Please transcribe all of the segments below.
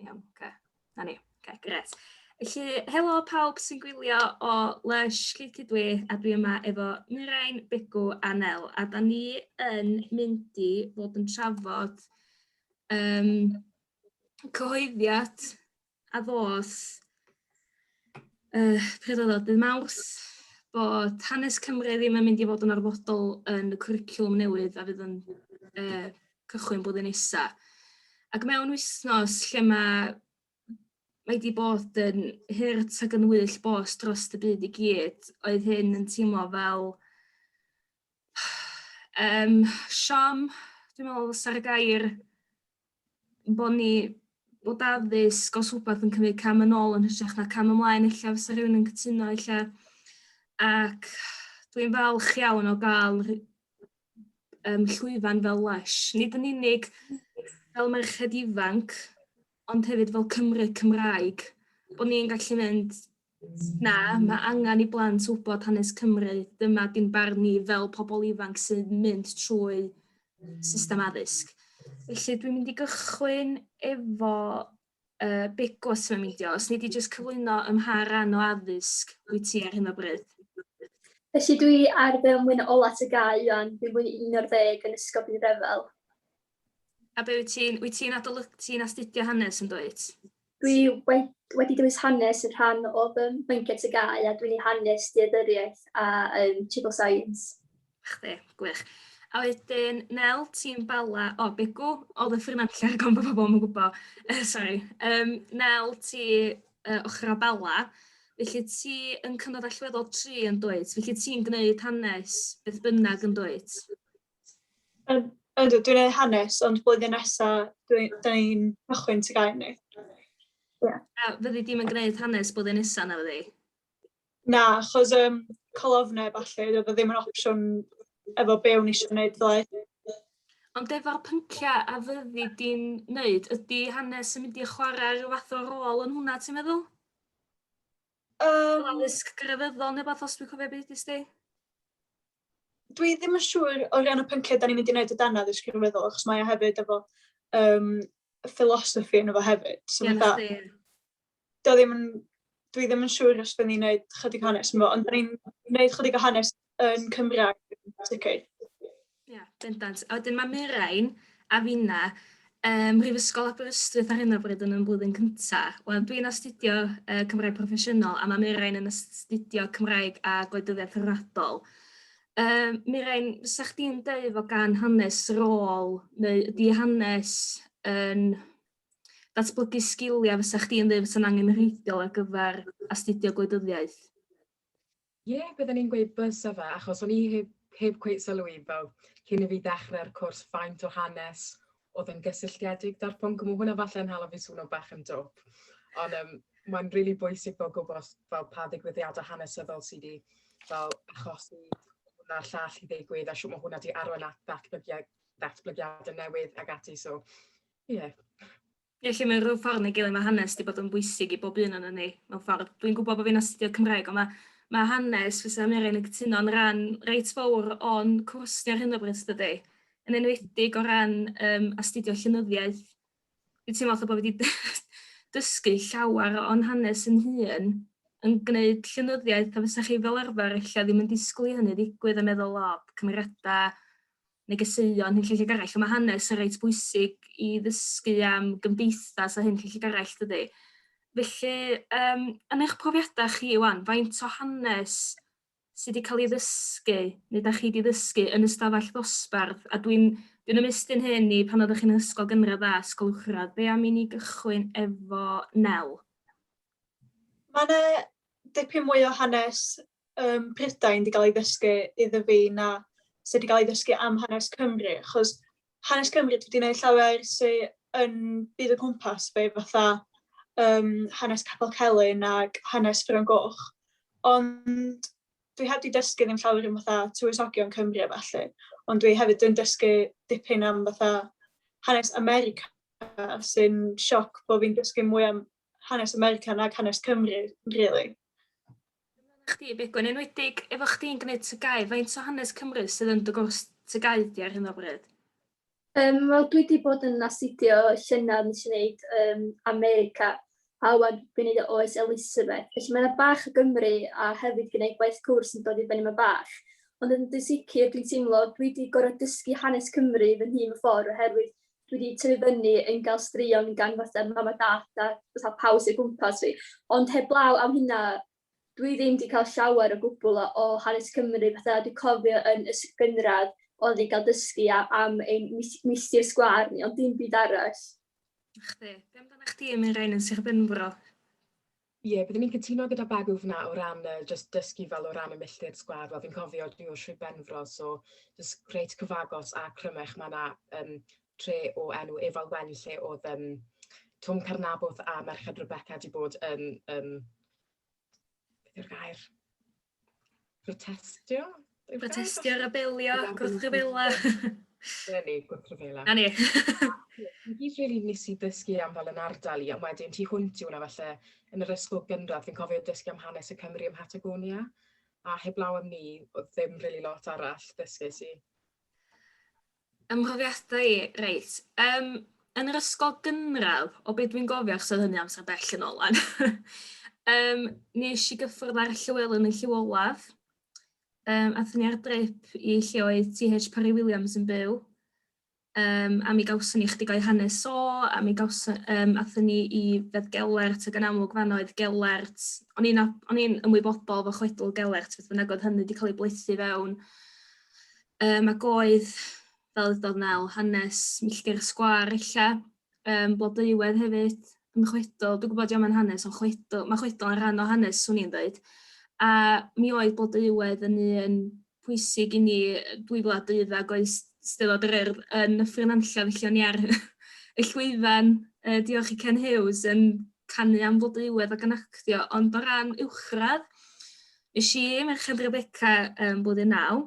Iawn, oce. 'Na ni. Oce, grêt. Felly, helo pawb sy'n gwylio o Lush, Llwyd Cydwŷ, a dwi yma efo Nurain, Begw a Nel. A da ni yn mynd i fod yn trafod um, cyhoeddiad a ddos uh, pryd oedd o, dydd Mawrth, bod hanes Cymru ddim yn mynd i fod yn arfodol yn y cwricwlwm newydd a fydd yn uh, cychwyn blwyddyn nesa. Ac mewn wythnos lle mae mae wedi bod yn hurt ac yn wyll bos dros y byd i gyd, oedd hyn yn teimlo fel um, siom, dwi'n meddwl sa'r gair, bod ni bod addysg os rhywbeth yn cymryd cam yn ôl yn hytrach na cam ymlaen ella fysa rhywun yn cytuno ella ac dwi'n falch iawn o gael um, llwyfan fel lesh. Nid yn unig fel merched ifanc ond hefyd fel Cymru Cymraeg bod ni'n gallu mynd Na, mae angen i blant wybod hanes Cymru. Dyma dim barn ni fel pobl ifanc sy'n mynd trwy system addysg. Felly dwi'n mynd i gychwyn efo uh, bigos mewn meidio. Os ni di jyst cyflwyno ym mha ran o addysg wyt ti ar hyn o bryd? Felly dwi ar fel mwyn o ola tygau, Iwan, dwi'n fwy 11 yn ysgol byd rhyfel. A be wyt ti'n, wyt ti'n adolyg, ti'n astudio hanes yn dweud? Dwi wedi, wedi dewis hanes yn rhan o fy mhynciau tygau a dwi'n ei hanes deaduriaeth a um, triple science. Chdi, gwych. A wedyn, Nel, ti'n bala, o, oh, Begw, o, y ffrinantlle ar gofn bod pobl yn gwybod. Uh, sorry. Um, Nel, ti uh, ochr o bala, felly ti yn cynnod allweddol tri yn dweud, felly ti'n gwneud hanes beth bynnag yn dweud? Ydw, dwi'n ei hanes, ond blwyddyn nesaf, dwi'n dweud cychwyn ti gael ni. Yeah. A fyddi di'n mynd gwneud hanes blwyddyn nesaf na fyddi? Na, chos um, colofnau falle, dwi ddim yn opsiwn efo be o'n eisiau gwneud ddoe. Ond efo'r pynciau a fyddi di'n wneud, ydy hanes yn mynd i chwarae rhyw fath o rôl yn hwnna, ti'n meddwl? Um, Addysg grefyddol neu beth os dwi'n cofio beth ysdi? dwi ddim yn siŵr o ran y pynciau da ni'n mynd i wneud o dan addysg rhyngweddol, achos mae o hefyd efo um, philosophy yn efo hefyd. So yeah, da, do ddim yn, dwi ddim yn siŵr os byddwn ni'n gwneud chydig hanes yn efo, ond da ni'n gwneud chydig o hanes yn Cymraeg yn sicr. Ie, yeah, bendant. A wedyn mae Mirain a finna ym Mhrifysgol Aberystwyth ar hyn o bryd yn y flwyddyn cynta. Wel, dwi'n astudio uh, Cymraeg Proffesiynol a mae Mirain yn astudio Cymraeg a Gwleidyddiaeth Rhyngwladol. Um, Mirain, fysa chdi'n dweud o gan hanes rôl neu ydy hanes yn datblygu sgiliau fysa chdi'n dweud fysa'n angenrheidiol ar gyfer astudio gwleidyddiaeth? Ie, bydden i'n gweud bysa fe, achos o'n i heb heb cweit sylw i fel cyn i fi ddechre'r cwrs faint o hanes oedd yn gysylltiedig da'r pwnc, a ma' hwnna falle yn hala fi swno bach yn dwp. Ond yym mae'n rili bwysig fel gwybod fel pa ddigwyddiadau hanesyddol sydd wedi fel achosi hwn a'r llall i ddigwydd a shwt mae hwnna wedi arwain at ddatblygiad ddatblygiadau newydd ac ati so ie. Felly mewn rhyw ffordd neu gilydd ma' hanes 'di bod yn bwysig i bob un onon ni mewn ffordd. Dwi'n gwbod bo' fi'n astudio Cymraeg on' ma' ma' hanes fysa Aneurin yn cytuno'n ran reit fowr o'n cwrs ni ar hyn o bryd dydi? Yn enwedig o ran yym astudio llenyddiaeth. Dwi'n teimlo fatha bo' fi 'di dy- dysgu llawer o'n hanes 'yn hun yn gneud llenyddiaeth a fysa chi fel arfer ella ddim yn disgwl i hynny ddigwydd a meddwl o cymeriada negeseuon hunllefydd ag eraill. Mae hanes yn reit bwysig i ddysgu am gymdeithas a hunllefydd ag eraill dydy. Felly, um, yn eich profiadau chi, Iwan, faint o hanes sydd wedi cael ei ddysgu, neu da chi wedi ddysgu yn y stafell ddosbarth, a dwi'n dwi ymestyn hyn i pan oeddech chi'n ysgol gynradd a ysgol uwchradd, be am i ni gychwyn efo Nel? Mae yna dipyn mwy o hanes um, Prydain wedi cael ei ddysgu iddo fi na sydd wedi cael ei ddysgu am hanes Cymru, achos hanes Cymru wedi gwneud llawer sydd yn byd o gwmpas fe, fatha um, hanes Capel Celyn ac hanes Ffron Goch. Ond dwi heb wedi dysgu ddim llawer yn fatha tywysogion Cymru a falle, ond dwi hefyd yn dysgu dipyn am fatha hanes America sy'n sioc bod fi'n dysgu mwy am hanes America nag hanes Cymru, really. Dyna chdi, Begwyn, enwedig efo chdi'n gwneud tygau, faint o hanes Cymru sydd yn dy gwrs tygau di ar hyn o bryd? Um, Wel, dwi wedi bod yn astudio llynedd nes i wneud um, America, a wan dwi'n gwneud oes Elizabeth. Felly mae'n bach o Gymru a hefyd gwneud gwaith cwrs yn dod i fyny mae bach. Ond yn dysicr, dwi'n teimlo, dwi wedi gorfod dysgu hanes Cymru fy nhîm y ffordd oherwydd dwi 'di tyfu fyny yn gael straeon gan fatha mam a dad a fatha pawb sy o gwmpas fi. Ond heblaw am hynna, dwi ddim 'di cael llawer o gwbl o o hanes Cymru. Fatha dwi'n cofio yn y s- gynradd o'n ni'n cael dysgu a- am ein mis- milltir sgwâr ni, ond dim byd arall. A chdi? Be' amdanach chdi am un rai yn Sir Benfro? Ie, byddwn i'n cytuno gyda Bagw fan'na o ran yy jyst dysgu fel o ran y milltir sgwâr. Wel fi'n cofio dwi o Sir Benfro so jyst reit cyfagos a Crymych ma' 'na yym tre o enw Efal Wen lle o'dd yym Twm Carnabwth a Merched Rebecca 'di bod yn yym beth yw'r gair? protestio? Protestio, rebelio, gwrthryfela. Dyna ni, gwrthryfela. Na ni. Fi really nes i ddysgu am fel yn ardal i, ond wedyn ti hwnt i hwnna falle yn yr ysgol gynradd, fi'n cofio dysgu am hanes y Cymru ym Patagonia, a heblaw am ni, oedd ddim really lot arall ddysgu si. Fy mhrofiadau i, reit, yym, yn yr ysgol gynradd, o be dwi'n gofio, achos oedd hynny amser bell yn ôl 'wan, yym, nes i gyffwrdd ar Llywelyn yn Llyw Olaf, um, athyn ni ar drip i lle oedd TH Parry Williams yn byw, um, a mi gawson ni chdig o'i hanes o, a mi gawson, um, athyn ni i Fedd Gelert, ac yn amlwg fan oedd Gelert, o'n i'n ymwybodol fo chwedl Gelert, beth bynnag oedd hynny wedi cael ei blethu fewn, Yym ag oedd fel ydodd Mel hanes milltir y sgwâr ella, yym Blodeuwedd hefyd yn chwedl, dwi'n gwybod 'di o'm yn hanes ond chwedl, ma' chwedl yn rhan o hanes 'swn i'n deud, a mi oedd Blodeuwedd yn un pwysig i ni yy 2012 ag oedd s- Steddfod yr Urdd yn Nyffryn Nantlle felly o'n i ar y llwyfan yy diolch i Ken Huws yn canu am Flodeuwedd ac yn actio ond o ran uwchradd Nes i, Merched Rebecca, um, blwyddyn naw.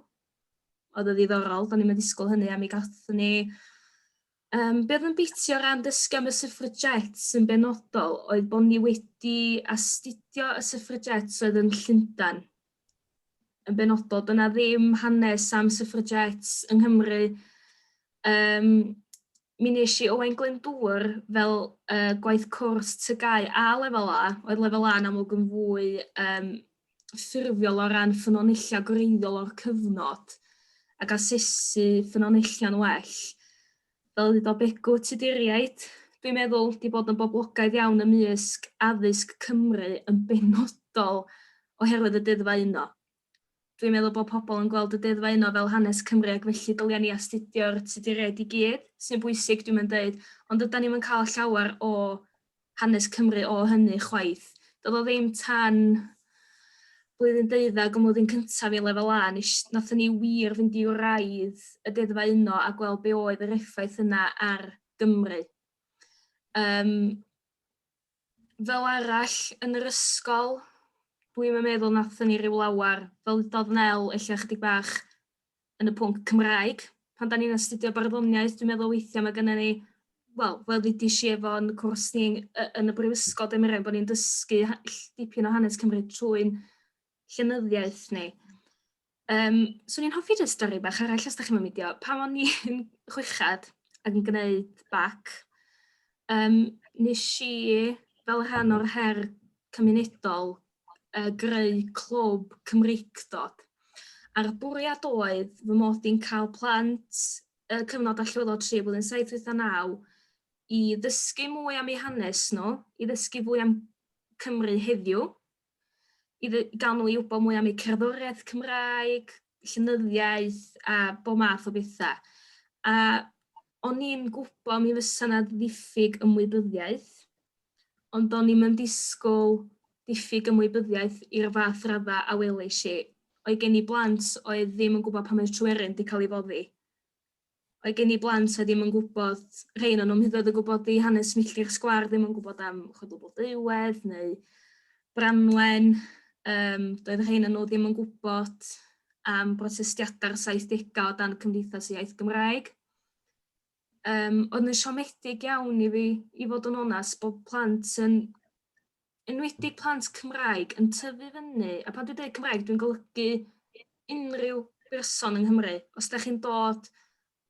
Oedd o ddiddorol, do'n i'n ddisgwyl hynny, a mi gathon ni... Um, be oedd yn biti o ran dysgu am y syffragets sy'n benodol oedd bod ni wedi astudio y syffragets oedd yn Llundain. Yn benodol, dyna ddim hanes am syffragets yng Nghymru Yym, mi wnes i Owain Glyndŵr fel, yy, gwaith cwrs TGAU a Lefel A, oedd Lefel A'n amlwg yn fwy, yym, ffurfiol o ran ffynonellau gwreiddiol o'r cyfnod ac asesu ffynonellion well. Fel y dywedodd Begw, Tuduriaid, dwi'n meddwl, 'di bod yn boblogaidd iawn ymysg addysg Cymru yn benodol oherwydd y Deuddfa Uno. Dwi'n meddwl bod pobl yn gweld y deddfau yno fel hanes Cymru ac felly dylia ni astudio'r Tuduriaid i gyd, sy'n bwysig dwi'm yn deud, ond dydan ni'm yn cael llawer o hanes Cymru o hynny chwaith. Doedd o ddim tan blwyddyn deuddag ym mlwyddyn cyntaf i Lefel A nes nathon ni wir fynd i wraidd y deddfau yno a gweld be oedd yr effaith yna ar Gymru. Yym. Fel arall, yn yr ysgol, dwi'm yn meddwl nathon ni ryw lawer, fel ddudodd Nel ella chydig bach yn y pwnc Cymraeg, pan 'dan ni'n astudio barddoniaeth dwi'n meddwl weithia' ma' gynnon ni wel fel ddudish i efo'n cwrs ni y- yn y brifysgol dwi'n meddwl bo' ni'n dysgu ha- ll- dipyn o hanes Cymru trwy'n llenyddiaeth neu Yym, 'swn i'n hoffi jyst stori bach arall os dach chi'm yn meindio. Pan o'n i'n chweched ac yn gwneud bac, yym, nes i fel rhan o'r her cymunedol yy greu clwb Cymreictod, a'r bwriad oedd fy mod i'n cael plant y cyfnod allweddol tri a blwyddyn saith wyth a naw i ddysgu mwy am eu hanes nhw, i ddysgu fwy am Cymru heddiw, i ddy- ga'l nhw i wbod mwy am eu cerddoriaeth Cymraeg, llenyddiaeth a bob math o betha. A o'n i'n gwybod mi fysa 'na ddiffyg ymwybyddiaeth, ond o'n i'm yn disgwyl diffyg ymwybyddiaeth i'r fath radda a welish i. Oedd gen i blant oedd ddim yn gwybod pan oedd Tryweryn 'di cael ei foddi. mae gen i blant oedd ddim yn gwybod, rhain o'n nhw'm hyd yn oed yn gwybod i hanes milltir sgwar, ddim yn gwybod am chwedl Blodeuwedd neu Branwen, um, doedd rhain o'n nhw ddim yn gwybod am brotestiadau'r 70au o dan Cymdeithas y Iaith Gymraeg. Um, oedd yn siomedig iawn i fi, i fod yn onest, bod plant yn enwedig plant Cymraeg, yn tyfu fyny, a pan dwi'n dweud Cymraeg dwi'n golygu unrhyw berson yng Nghymru, os da chi'n dod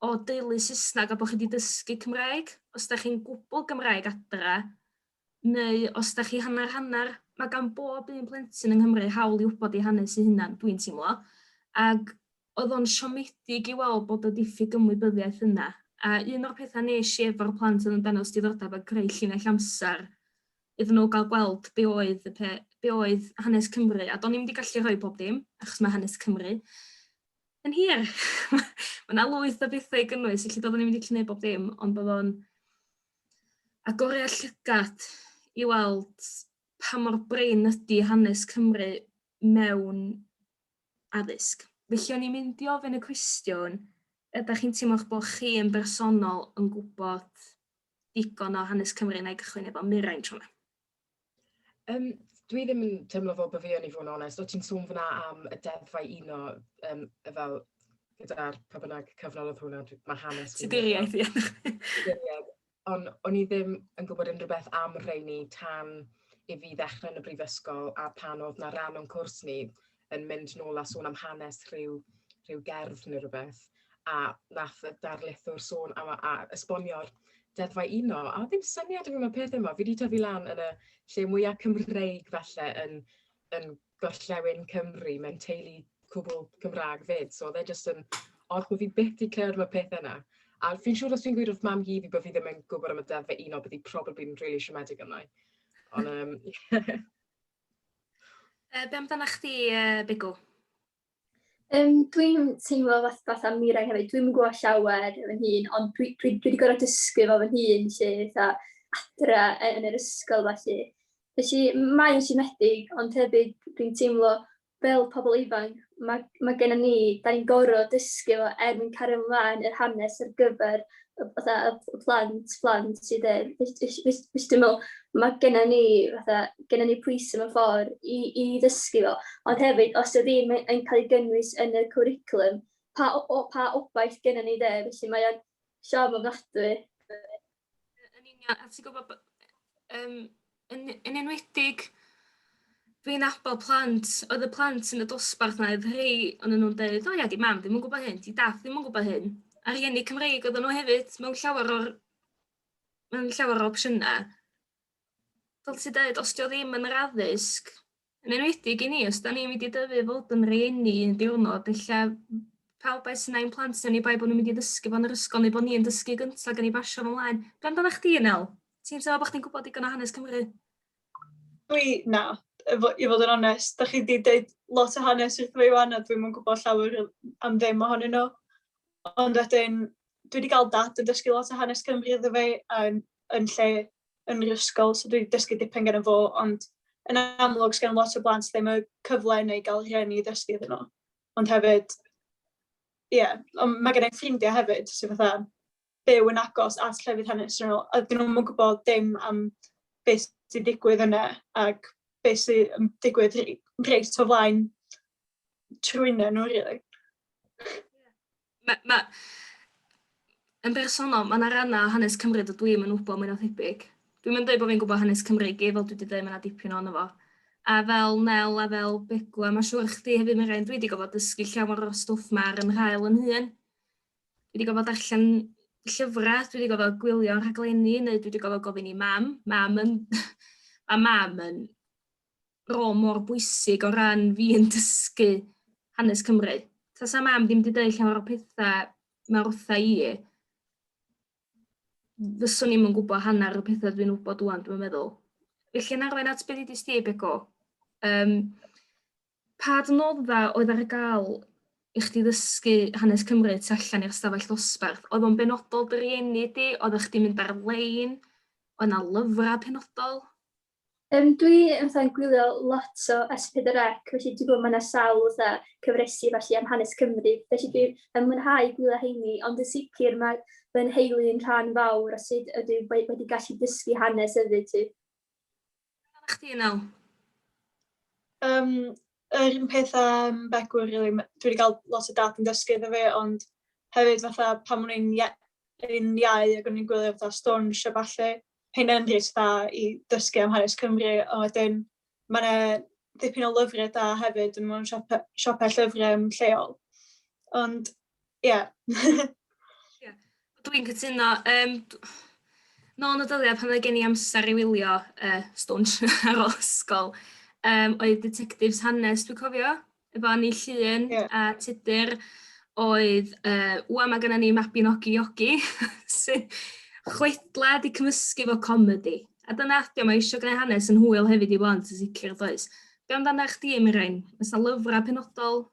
o deulu Saesneg a bod chi wedi dysgu Cymraeg, os da chi'n gwbl Gymraeg adra, neu os da chi hanner hanner, mae gan bob un plentyn yng Nghymru hawl i wybod ei hanes ei hunan, dwi'n teimlo. Ac Oedd o'n siomedig i weld bod y diffyg ymwybyddiaeth yna, a un o'r pethau wnes i efo'r plant oedd yn dangos diddordeb a creu llinell amser iddyn nhw gael gweld be oedd y pe- be oedd hanes Cymru, a do'n i'm 'di gallu rhoi pob dim, achos mae hanes Cymru yn hir. Mae 'na lwyth o bethau i gynnwys, felly doeddwn i'm wedi gallu gwneud bob dim, ond oedd o'n agoriad llygad i weld pa mor brin ydy hanes Cymru mewn addysg. Felly o'n i'n mynd i ofyn y cwestiwn, ydych chi'n teimlo'ch bod chi yn bersonol yn gwybod digon o hanes Cymru na i gychwyn efo Mirain tro 'ma? Um, dwi ddim yn teimlo fel bod fi yn i fod yn onest. O ti'n sôn fyna am y deddfau uno um, fel gyda'r pa bynnag cyfnod oedd hwnna, mae hanes... Tuduriaeth, ie. Ond o'n i ddim yn gwybod unrhyw beth am y rheini tan i fi ddechrau yn y brifysgol a pan oedd 'na ran o'n cwrs ni yn mynd nôl a sôn am hanes rhyw rhyw gerdd neu rhywbeth, a nath y darlithwr sôn am a a esbonio'r deddfau uno, a ddim syniad o fi am y peth yma, fi wedi tyfu lan yn y lle mwya' Cymreig falle yn yn gorllewin Cymru, mae'n teulu cwbl Cymraeg fyd, so oedd e jyst yn odd bod fi byth wedi clywed am y pethau yna. A fi'n siŵr os fi'n gweud wrth mam hi fi bod fi ddim yn gwybod am y deddf un o bydd hi probably yn really siomedig yna. Ond, um, yeah. Uh, be amdana chdi, uh, Bigw? Yym, dwi'n teimlo fath- fatha Mireng hefyd, dwi'm yn gwybod llawer o fy hun, ond dwi dwi dwi 'di gorfod dysgu fo fy hun 'lly, fatha adra y- yn yr ysgol felly. Felly, mae o'n siomedig, ond hefyd dwi'n teimlo fel pobl ifanc, ma' ma' gennyn ni... dan ni'n gorfod dysgu fo er mwyn cario mlaen yr hanes ar gyfer fatha y plant, plant sydd yy wis- wis- wis- wis- dwi'n meddwl, ma' gynna ni fatha, gynna ni pwyse mewn ffordd i i ddysgu fo, ond hefyd os 'di o ddim yn yn cael ei gynnwys yn y cwricwlwm, pa o- o- pa obaith gynna ni de? Felly mae o'n siom ofnadwy. Yn union, a ti'n gwybod b- yym... Yn yn enwedig dwi'n abod plant oedd y plant yn y dosbarth 'na oedd rhei o'n nhw'n deud, o ia 'di mam ddim yn gwybod hyn, 'di dad ddim yn gwybod hyn. A rhieni Cymreig oedden nhw hefyd mewn llawer o'r mewn llawer o opsiynau. Fel ti dweud, os 'di o ddim yn yr addysg, Yn enwedig i ni, os 'dan ni'n mynd i dyfu i fod yn rieni un diwrnod, ella pawb â'u synnau ein plant ni, oni bai bo' nhw'n mynd i ddysgu fo yn yr ysgol neu bo' ni yn dysgu gynta gan i basio fo mlaen. Be' amdanach chdi Nel? Ti'n teimlo bo' chdi'n gwbod digon o hanes Cymru? Dwi, na, efo, i fod yn onest, da chi wedi deud lot o hanes wrth fi wan a dwi'm yn gwybod llawer am ddim ohonyn nhw. Ond wedyn, dwi wedi cael dad yn dysgu lot o hanes Cymru iddo fi yn, yn lle yn yr ysgol, so dwi 'di dysgu dipyn geno fo, ond yn amlwg, sgen lot o blant ddim y cyfle yna i gael rhieni i ddysgu iddyn nhw. Ond hefyd, ie, ond mae gennai ffrindiau hefyd sydd fatha byw yn agos at llefydd hanesyddol, a 'dyn nhw'm yn gwybod dim am be sy'n digwydd yna, ac be sy yn digwydd r- reit o flaen trwynyn nhw rili. Ma' ma'... Yn bersonol ma' 'na ranna' o hanes Cymru dydw i'm yn wbo mwy na thebyg. Dwi'm yn deud bo' fi'n gwbo hanes Cymru i gyd fel dwi 'di deud ma' 'na dipyn ohono fo. A fel Nel a fel Begw a ma' siŵr chdi hefyd Menrain dwi 'di gorfod dysgu llawer o'r stwff 'ma ar 'y nhail 'yn hun. Dwi 'di gorfod darllen llyfra' dwi 'di gorfod gwylio rhaglenni neu dwi 'di gorfod gofyn i mam. Mam yn ma' mam yn rôl mor bwysig o ran fi yn dysgu hanes Cymru. Tasa mam ddim wedi dweud llawer o pethau mae wrtha i, fyswn i'm yn gwybod hanner y pethau dwi'n wybod dwi'n dwi'n meddwl. Felly yn arwain at beth i ddysgu i Bego, um, pa dnodda oedd ar gael i chdi ddysgu hanes Cymru tu allan i'r stafell ddosbarth? Oedd o'n benodol dy rieni di? Oedd o'ch di mynd ar-lein? Oedd yna lyfrau penodol? Yym dwi yn fatha yn gwylio lot o S pedwar Ec felly dwi gwbo ma' 'na sawl fatha cyfresi felly am hanes Cymru felly dwi yn mwynhau gwylio rheini ond yn sicir ma' fy nheulu yn rhan fawr o sud ydw i we- wedi gallu dysgu hanes hefyd 'lly. Beth amdanach chdi Inel? Yym yr un peth a yym Begw rili m- dwi 'di ga'l lot o dad yn dysgu iddo fi ond hefyd fatha pan o'n i'n ie- yn iau ag o'n i'n gwylio fatha Stwnsh a ballu hynna'n enghraifft dda i ddysgu am hanes Cymru, a wedyn mae yna ddipyn o lyfrau da hefyd yn mewn siopau, siopau llyfrau lleol. Ond, ie. Yeah. yeah. Dwi'n cytuno. Um, nôl yn y dyddiau pan oedd gen i amser i wylio uh, stwnsh ar ôl ysgol, um, oedd Detectives Hanes, dwi'n cofio, efo ni Llŷn yeah. a Tudur oedd, uh, wan mae gennym ni Mabinogi Iogi, sy'n chwedla di cymysgu fo comedi. A dyna adio, mae eisiau gwneud hanes yn hwyl hefyd i blant yn sicr does. Be amdana chdi, Mirain? Oes na lyfrau penodol?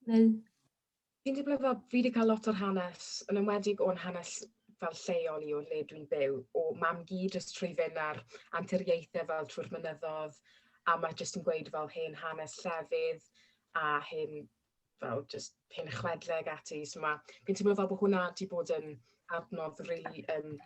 Neu... Fi'n teimlo fel fi 'di cael lot o'r hanes, yn enwedig o'n hanes fel lleol i o le dwi'n byw, o mam-gu jyst trwy fynd ar anturiaethau fel trwy'r mynyddodd, a mae jyst yn gweud fel hen hanes llefydd a hen fel jyst hen chwedlau ac ati. So ma'... fi'n teimlo fel bod hwnna 'di bod yn adnodd rili yym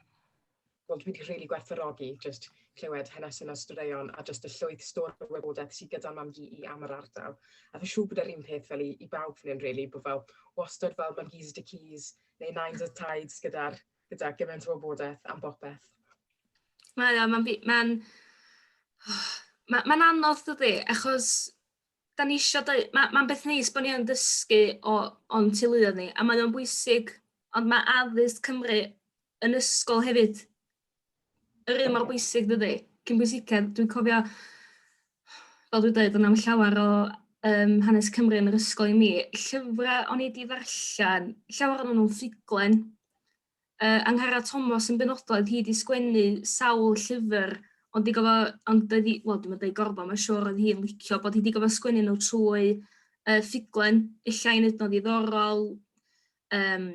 Wel dwi 'di rili gwerthfawrogi jyst clywed hanesion a straeon a jyst y llwyth stori o wybodaeth sy gyda mam gu i am yr ardal. A fi'n siŵr bod yr un peth fel i i bawb fan hyn rili bo' fel wastad fel mam gu's a dickies neu nines a tides gyda'r gyda gyment o wybodaeth am bopeth. Mae o, mae'n mae'n ma' ma'n anodd dydi achos da ni isio deu- ma' ma'n beth neis bo' ni yn dysgu o o'n teuluoedd ni a mae o'n bwysig ond mae addysg Cymru yn ysgol hefyd yr un mor bwysig dydi? Cyn bwysicedd dwi'n cofio fel dwi'n dweud, o'n am llawer o um, hanes Cymru yn yr ysgol i mi, llyfrau o'n i wedi ddarllen, llawer o'n nhw'n ffuglen. Uh, Anghara Thomas yn benodol, oedd hi wedi sgwennu sawl llyfr, ond di gofio, ond doedd hi, wel, dwi'n meddwl gorfod, mae'n siŵr oedd hi'n licio bod hi wedi gofio sgwennu nhw trwy uh, ffuglen, efallai yn ednodd ddiddorol, um,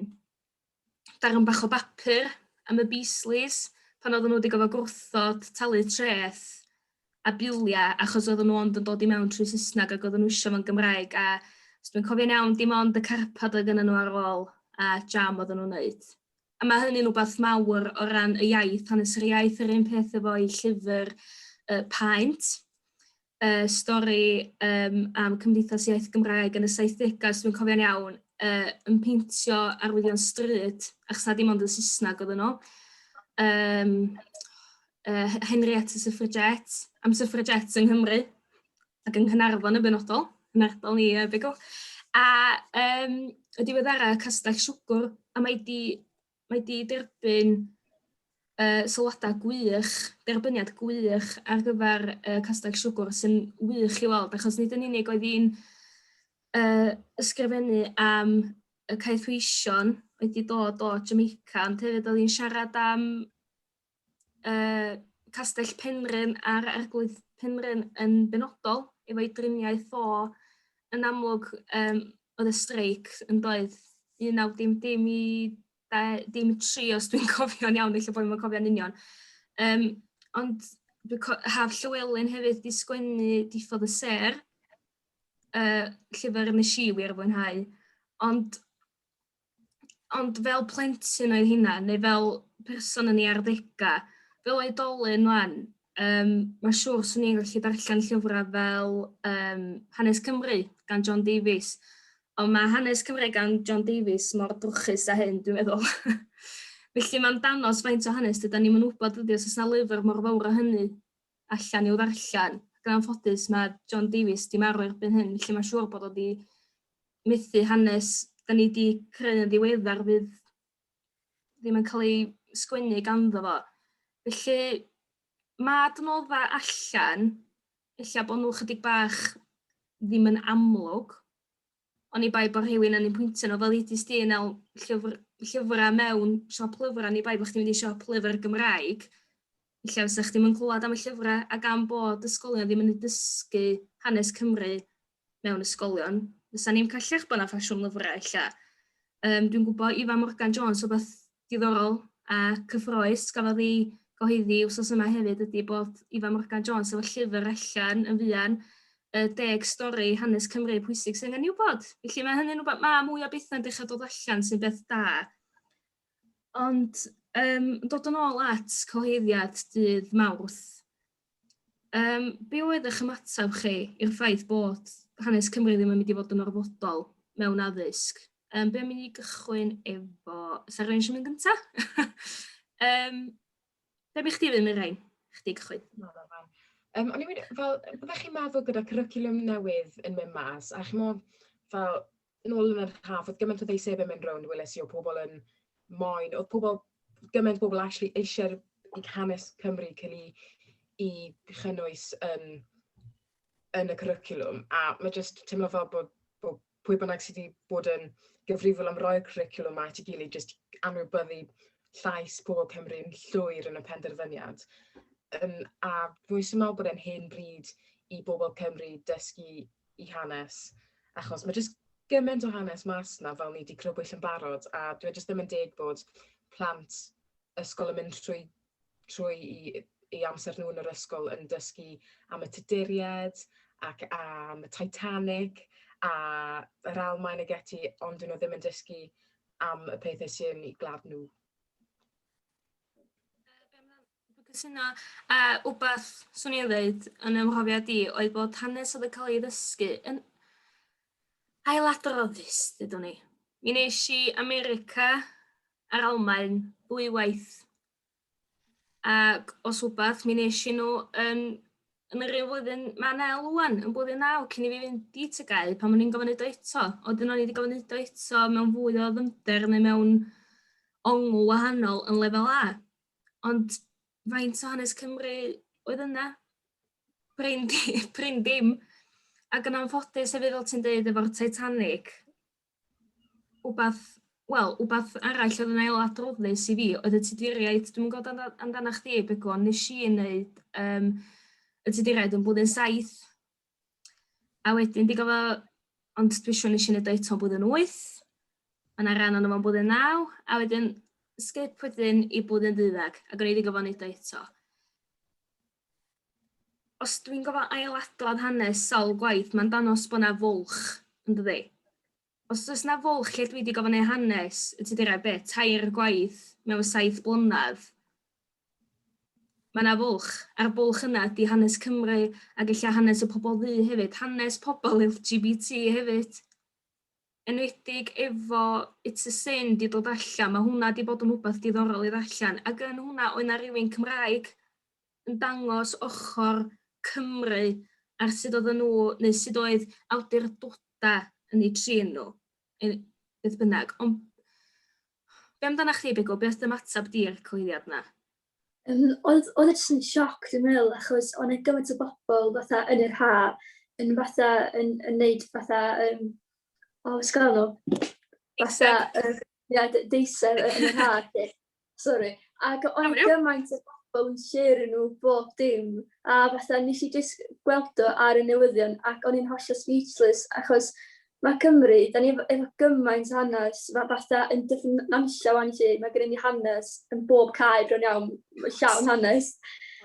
darn bach o bapur am y Beasleys pan oedden nhw wedi gofod gwrthod talu treth a biliau achos oedden nhw ond yn dod i mewn trwy Saesneg ac oedden nhw eisiau fo'n Gymraeg a os dwi'n cofio'n iawn dim ond y carpad oedd gynnyn nhw ar ôl a jam oedden nhw'n wneud. A mae hynny'n wbeth mawr o ran y iaith, hanes yr iaith, yr un peth efo'i llyfr uh, Paent. y stori yym am Cymdeithas Iaith Gymraeg yn y saithdegau os dwi'n cofio'n iawn yy yn peintio arwyddion stryd achos na dim ond yn Saesneg oedden nhw. Yym yy Henrietta Suffragette, am suffragettes yng Nghymru ac yng Nghanarfon yn benodol, yn ardal ni yy Begw. A yym y diweddara Castell Siwgwr a mae 'di mae 'di derbyn uh, sylwadau gwych, derbyniad gwych ar gyfer uh, Castell Siwgwr sy'n wych i weld, achos nid yn unig oedd hi'n uh, ysgrifennu am y caethweision wedi dod o Jamaica, ond hefyd oedd hi'n siarad am uh, Castell Penrhyn a'r Arglwydd Penrhyn yn benodol efo'i driniaeth o yn amlwg um, oedd y streic yn doedd 19dim i dim tri os dwi'n cofio'n iawn, eich bod yn cofio'n union. Um, ond haf Llywelyn hefyd di sgwennu diffodd y ser, uh, llyfr nes i wir fwynhau. Ond ond fel plentyn oedd hynna, neu fel person yn ei arddegau, fel oedolyn wan, um, mae'n siŵr swn i'n gallu darllen llyfrau fel um, Hanes Cymru gan John Davies. Ond mae Hanes Cymru gan John Davies mor drwchus a hyn, dwi'n meddwl. Felly mae'n danos faint o hanes dyda ni'n mynd wybod ydy os yna lyfr mor fawr o hynny allan i'w ddarllen, gan anffodus ma' John Davies 'di marw erbyn hyn felly ma'n siŵr bod o 'di methu hanes 'dan ni 'di creu yn ddiweddar fydd ddim yn cael ei sgwennu ganddo fo. Felly ma' adnodda allan ella bod nhw chydig bach ddim yn amlwg oni bai bod rhywun yn ein pwyntio nhw, fel udis di yn el llyfr, llyfrau mewn siop lyfrau, ni bai bod chdi'n mynd i siop lyfr Gymraeg, lle fysa chdi'n mynd clywed am y llyfrau a gan bod ysgolion ddim yn dysgu hanes Cymru mewn ysgolion, fysa ni'n cael llechbon a ffasiwn lyfrau lle. Um, dwi'n gwybod Ifa Morgan Jones, o beth diddorol a cyffroes gafodd ei gyhoeddi wsos yma hefyd ydy bod Ifan Morgan Jones efo llyfr allan yn fuan, y deg stori hanes Cymru pwysig sy'n angen i'w bod. Felly mae hynny'n rhywbeth, mae mwy o bethau'n dechrau dod allan sy'n beth da. Ond um, dod yn ôl at cyhoeddiad dydd Mawrth, Yym, be oedd eich ymateb chi i'r ffaith bod hanes Cymru ddim yn mynd i fod yn orfodol mewn addysg? Yym, be am i ni gychwyn efo... Sa rhywun eisiau mynd gynta? um, be bych chdi efo Mirain? Chdi gychwyn. Um, o'n i'n mynd, fel, byddech chi'n meddwl gyda cwricwlwm newydd yn mynd mas, a chi'n meddwl, fel, yn ôl yn yr haf, oedd gymaint o ddeisebau mynd rownd, weles i o pobl yn moyn, oedd pobl, gymaint o pobl actually eisiau'r i hanes Cymru cyn i, i chynnwys yn, yn y cwricwlwm. A mae jyst teimlo fel bod, bod pwy bynnag sydd wedi bod yn gyfrifol am roi'r cwricwlwm mae ti gilydd jyst anwybyddu llais pobl Cymru'n llwyr yn y penderfyniad. Um, a dwi'n meddwl bod e'n hen bryd i bobl Cymru dysgu i hanes, achos mae jyst gymaint o hanes mas yna fel ni wedi crybwyll yn barod, a dwi e jyst ddim yn deg bod plant ysgol yn mynd trwy, trwy i, i amser nhw yn yr ysgol yn dysgu am y Tuduriaid ac am y Titanic a yr Almaen y geti, ond dyn nhw ddim yn dysgu am y pethau sy'n i glad nhw. Dwi'n cytuno, a wbath swn i'n ddeud yn 'y mhrofiad i oedd bod hanes oedd yn cael ei ddysgu yn ailadroddus, dydw i. Mi wnes i America a'r Almaen ddwy waith ac os wbath mi wnes i nhw yn yn yr un flwyddyn ma' Nel ŵan yn blwyddyn naw cyn i fi fynd i Tŷ Gau pan o'n i'n gofyn neud o eto a wedyn o'n i 'di gofyn neud o eto mewn fwy o ddyfnder neu mewn ongl wahanol yn lefel A. Ond faint o hanes Cymru oedd yna? Prin, prin dim. Ac yn anffodus hefyd, fel ti'n dweud, efo'r Titanic, wbath, wel, wbath arall oedd yn ail adroddus i fi, oedd y tuduriaid, dwi'n gwybod amdana chdi, Begw, ond nes i yn neud um, y tuduriaid yn blwyddyn saith, A wedyn digon fo ond dwi siŵr nes i neud o eto blwyddyn wyth. Ma' 'na ran ono fo'n blwyddyn naw a wedyn sgip wedyn i blwyddyn ddeuddag ac o'n i wedi gorfod neud o eto. Os dwi'n gorfod ailadrodd hanes sawl gwaith ma'n dangos bo' 'na fwlch yndydi? Os does 'na fwlch lle dwi 'di gofyn eu hanes y Tuduriaid be', tair gwaith mewn saith blynedd, ma' 'na fwlch, a'r bwlch yna ydi hanes Cymru ac ella hanes y pobl ddu hefyd, hanes pobl LGBT hefyd. Enwedig efo It's a Sin 'di dod allan, ma' hwnna 'di bod yn wbath diddorol i ddarllen, ag yn hwnna oedd 'na rywun Cymraeg yn dangos ochr Cymru ar sut oedden nhw, neu sut oedd awdurdodau yn eu trin nhw, yn, beth bynnag. Ond be amdana chdi, Bigw? Be oedd dy ymateb di i'r cyhoeddiad yna? Um, oedd, oedd e jyst yn sioc, dwi'n meddwl, achos o'n e gymaint o bobl fatha yn yr ha, yn fatha, yn, yn neud fatha, um, o, sgan nhw? Fatha, uh, Ia, d- deiseb yn yr haf 'lly. Sori. Ac oedd... Iawn, iawn. ...gymaint o bobl yn shêrio nhw bob dim, a fatha wnes i jyst gweld o ar y newyddion ac o'n i'n hollol speechless, achos ma' Cymru, dan ni efo efo gymaint o hanes, ma' fatha yn Dyffryn Nantlle 'wan 'lly, ma' gennyn ni hanes yn bob cae bron iawn, llawn hanes.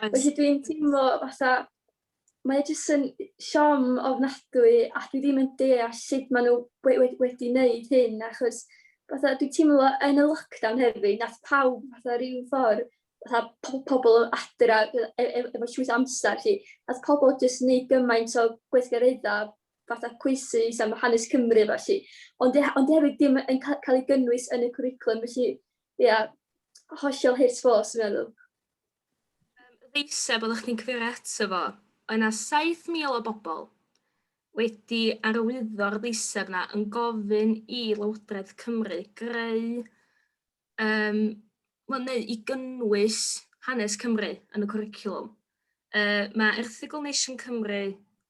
Felly dwi'n teimlo fatha mae e jyst yn siom ofnadwy a dwi ddim yn deall sut maen nhw we- we- wedi wneud hyn achos fatha, dwi'n teimlo yn y lockdown hefyd, nath pawb fatha rhyw ffordd, fatha po- pobl adra e- e- e- efo llwyth o amser 'lly, nath pobl jyst wneud gymaint o gweithgareddau fatha cwisydd am hanes Cymru a felly, ond e- ond hefyd ddim yn ca- cael ei gynnwys yn y cwricwlwm felly ia, hollol hurt ffôs dwi'n meddwl. Yym, y ddeiseb oeddech chdi'n cyfeirio ato fo, oedd 'na 7,000 o bobl wedi arwyddo'r ddeiseb 'na yn gofyn i Lywodraeth Cymru greu yym wel neu i gynnwys hanes Cymru yn y cwricwlwm. Yy ma' erthygl Nation Cymru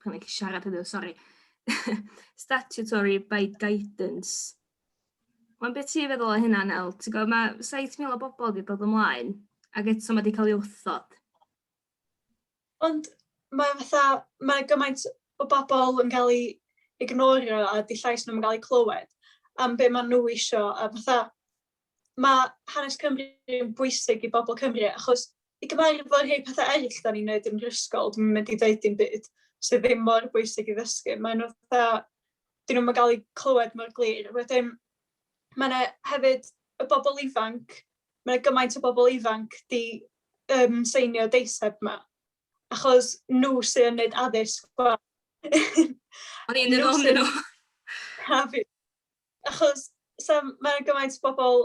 Dwi'n gallu siarad heddiw, sori. Statutory by guidance. Mae'n beth ti'n feddwl o hynna, Nel? Ti'n gwybod, mae 7,000 o bobl wedi dod ymlaen, ac eto mae wedi cael ei wrthod. Ond mae fatha, mae gymaint o bobl yn cael ei ignorio a di llais nhw'n cael ei clywed am be maen nhw eisiau a fatha mae hanes Cymru yn bwysig i bobl Cymru, achos i gyfarfod rhai pethau eraill da ni'n neud yn yr ysgol, dwi'n mynd i ddeud dim byd sydd ddim mor bwysig i ddysgu. Mae nhw dda, dyn nhw'n cael eu clywed mor glir. Wedyn, mae yna hefyd y bobl ifanc, mae yna gymaint o bobl ifanc di um, seinio deiseb yma, achos nhw sy'n neud addysg O'n i'n dod o'n nhw. Achos sa- ma' 'na gymaint o bobl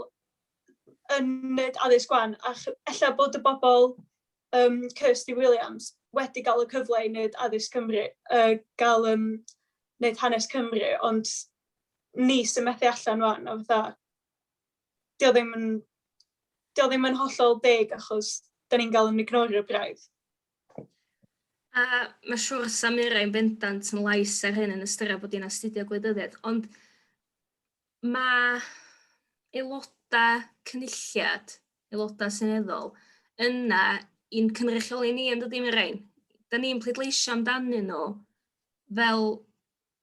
yn wneud addysg 'wan, a ch- ella bod y bobl yym Kirsty Williams wedi cael y cyfle i wneud addysg Cymru, yy gael yym wneud hanes Cymru, ond ni sy'n methu allan 'wan, a fatha 'di o ddim yn 'di o ddim yn hollol deg, achos dan ni'n cael ein ignorio braidd. A mae'n siŵr Samira yn bendant yn lais ar hyn yn ystyried bod hi'n astudio gwleidyddiaeth, ond mae aelodau cynulliad, aelodau seneddol, yna i'n cynrychioli ni yn dydy Mirain. Da ni'n pleidleisio amdanyn nhw fel